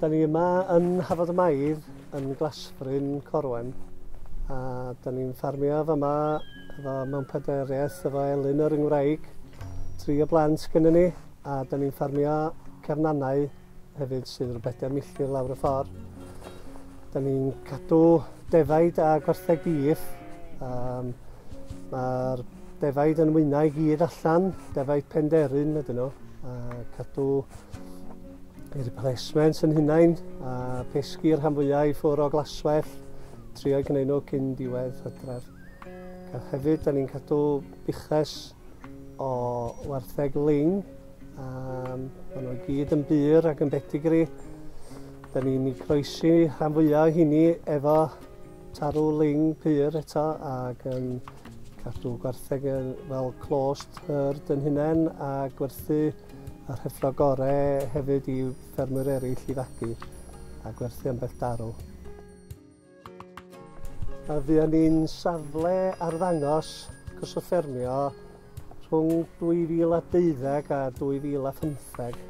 Da ni yma yn Hafod y Mair, yn Glasfryn, Corwen, a da ni'n ffarmio fama efo mewn partneriaeth efo Elin yr Yngwraig. Tri o blant gennym ni, a da ni'n ffarmio cefnannau hefyd sydd rhyw bedair milltir lawr y ffordd. Da ni'n cadw defaid a gwartheg bîf. Um, Mae'r defaid yn wyna i gyd allan, defaid penderyn ydyn nhw. A cadw y replacements yn hunain a pesgi'r rhan fwyaf i ffwr o glaswell, trio'i gwneud nhw cyn diwedd hydref. A hefyd, da ni'n cadw buches o wartheg ling. Um, maen nhw gyd yn bur ac yn bedigri. Da ni'n ei groesi rhan fwyaf o hini efo tarw ling pur eto ac yn cadw gwartheg yn fel closed herd yn hunain a gwerthu yr heffro gorau hefyd i ffermwyr eraill i fagu a gwerthu ambell darw. A fuon ni'n safle arddangos cwrs o ffermio rhwng 2012 a 2015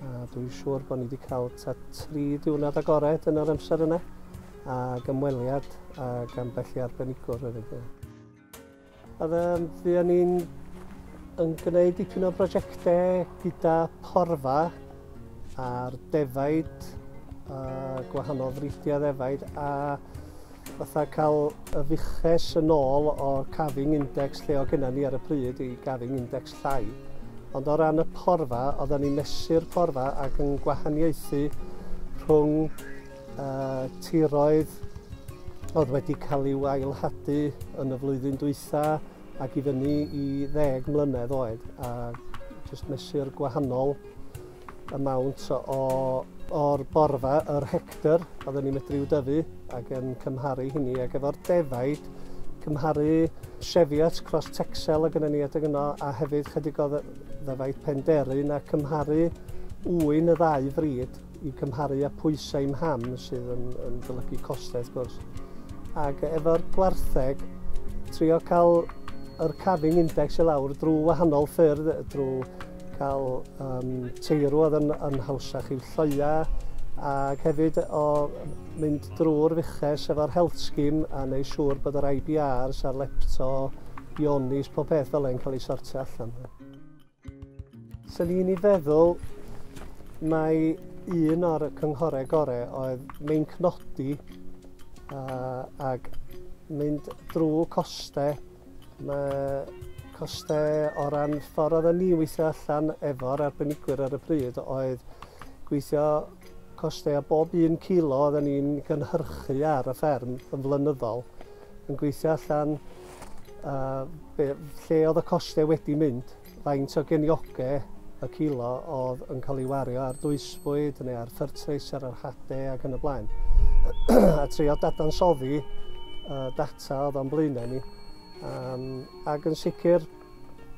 a dwi'n siŵr bod ni wedi cael ta tri diwrnod agored yn yr amser yna ac ymweliad ac ambell i arbenigwr hefyd. Yym, fuon ni'n yn gwneud dipyn o brosiectau gyda porfa a'r defaid, a gwahanol ddreifftiau ddefaid, a fatha cael y fuches yn ôl o'r calving index lle o gyda ni ar y pryd i calving index llai. Ond o ran y porfa, oedden ni'n mesu'r porfa ac yn gwahaniaethu rhwng a tiroedd oedd wedi cael ei ailhadu yn y flwyddyn dwytha ac i fyny i ddeg mlynedd oed a jyst mesur gwahanol amount o o'r borfa, yr hector oedden ni'n medru i'w dyfu ac yn cymharu hynny ac efo'r defaid, cymharu Cheviot Cross Texel o gyda ni adeg yno a hefyd chydig o ddefaid Penderyn a cymharu ŵyn y ddau fryd. i gymharu â phwysau mham sydd yn, yn golygu costau wrth gwrs. Ac efo'r gwartheg, trio cael yr carving index i lawr drwy wahanol ffyrdd, drwy cael um, teirw oedd yn, yn hawsach i'w lloiau, ac hefyd o mynd drwy'r fuches efo'r health scheme a neu siŵr bod yr IBRs a'r lepto, ionis, pob peth fel e'n cael ei sortio allan. Swn i'n ei feddwl mae un o'r cynghorau gorau oedd meinc nodi uh, ag mynd drwy costau. Mae costau o ran ffordd oedden ni weithio allan efo'r arbenigwyr ar y pryd oedd gweithio costau a bob un kilo oedden ni'n gynhyrchu ar y fferm yn flynyddol yn gweithio allan a be, lle oedd y costau wedi mynd, faint o geniogau y cilo oedd yn cael ei wario ar dwysbwyd neu ar ffyrtreiser ar hadau ac yn y blaen. a trio dadansoddi uh, data oedd o'n blaenau ni. Um, ac yn sicr,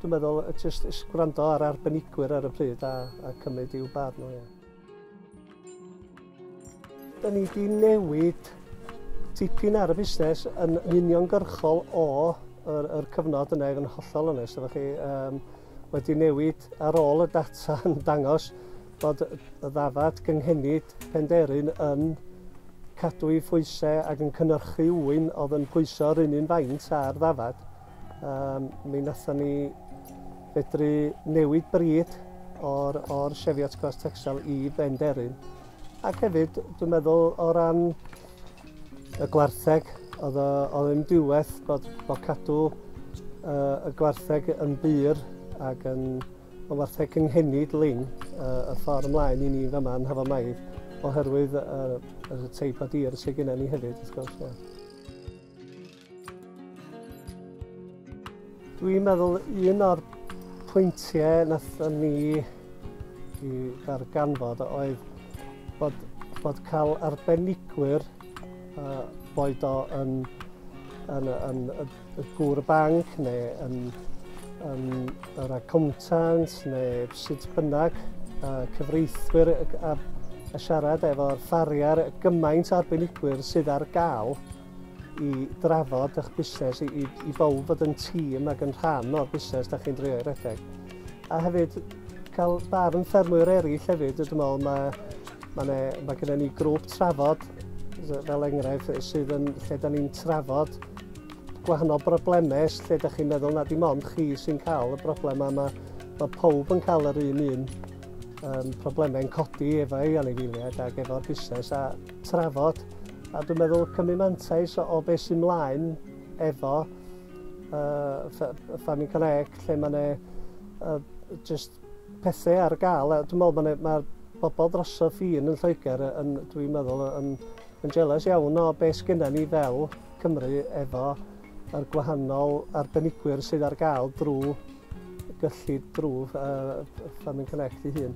dwi'n meddwl, jyst gwrando ar arbenigwyr ar y pryd a, a cymryd i'w bad nhw. Yeah. Da ni wedi newid tipyn ar y busnes yn uniongyrchol o yr, yr cyfnod yna i fod yn hollol onest efo chi. Um, wedi newid ar ôl y data yn dangos bod y ddafad gynghenid Penderyn yn cadw i phwysau ac yn cynnyrchu ŵyn oedd yn pwyso yr un un faint ar ddafad. Um, mi nathon ni fedru newid bryd o'r, or Cheviot Gos Texel i Benderin. Ac hefyd, dwi'n meddwl o ran y gwartheg, oedd o, oedd yn diwedd bod, bod cadw uh, y gwartheg yn byr ac yn, yn wartheg cynghenid ling uh, y ffordd ymlaen i ni fyma yn Hafod Maidd oherwydd uh, y teip o dir sydd gennym ni hefyd, wrth gwrs. Yeah. Dwi'n meddwl un o'r pwyntiau nathon ni i ddarganfod oedd bod, bod cael arbenigwyr uh, boed o yn, yn, yn, yn, yn gŵr y banc neu yn, yn yr accountant neu sut bynnag, y cyfreithwyr a'r a siarad efo'r ffariau gymaint o arbenigwyr sydd ar gael i drafod eich busnes i, i, i bawb fod yn tîm ac yn rhan o'r busnes da chi'n dreulio redeg. A hefyd cael barn ffermwyr eraill hefyd, dwi'n meddwl mae, mae, ne, mae gennym ni grŵp trafod fel enghraifft sydd yn lle da ni'n trafod gwahanol broblemau lle dych chi'n meddwl na dim ond chi sy'n cael y broblem a mae, mae pob yn cael yr un un um, problemau yn codi efo ei anifiliaid ac efo'r busnes a trafod a dwi'n meddwl cymryd mantais o, o beth sy'n mlaen efo uh, Farming Connect lle mae'n uh, just pethau ar gael a dwi'n meddwl mae'n mae bobl drosodd ffin yn Lloegr yn, dwi'n meddwl yn, yn jealous iawn o beth sgynna ni fel Cymru efo yr gwahanol arbenigwyr sydd ar gael drwy gyllid drwy uh, Farming Connect ei hun.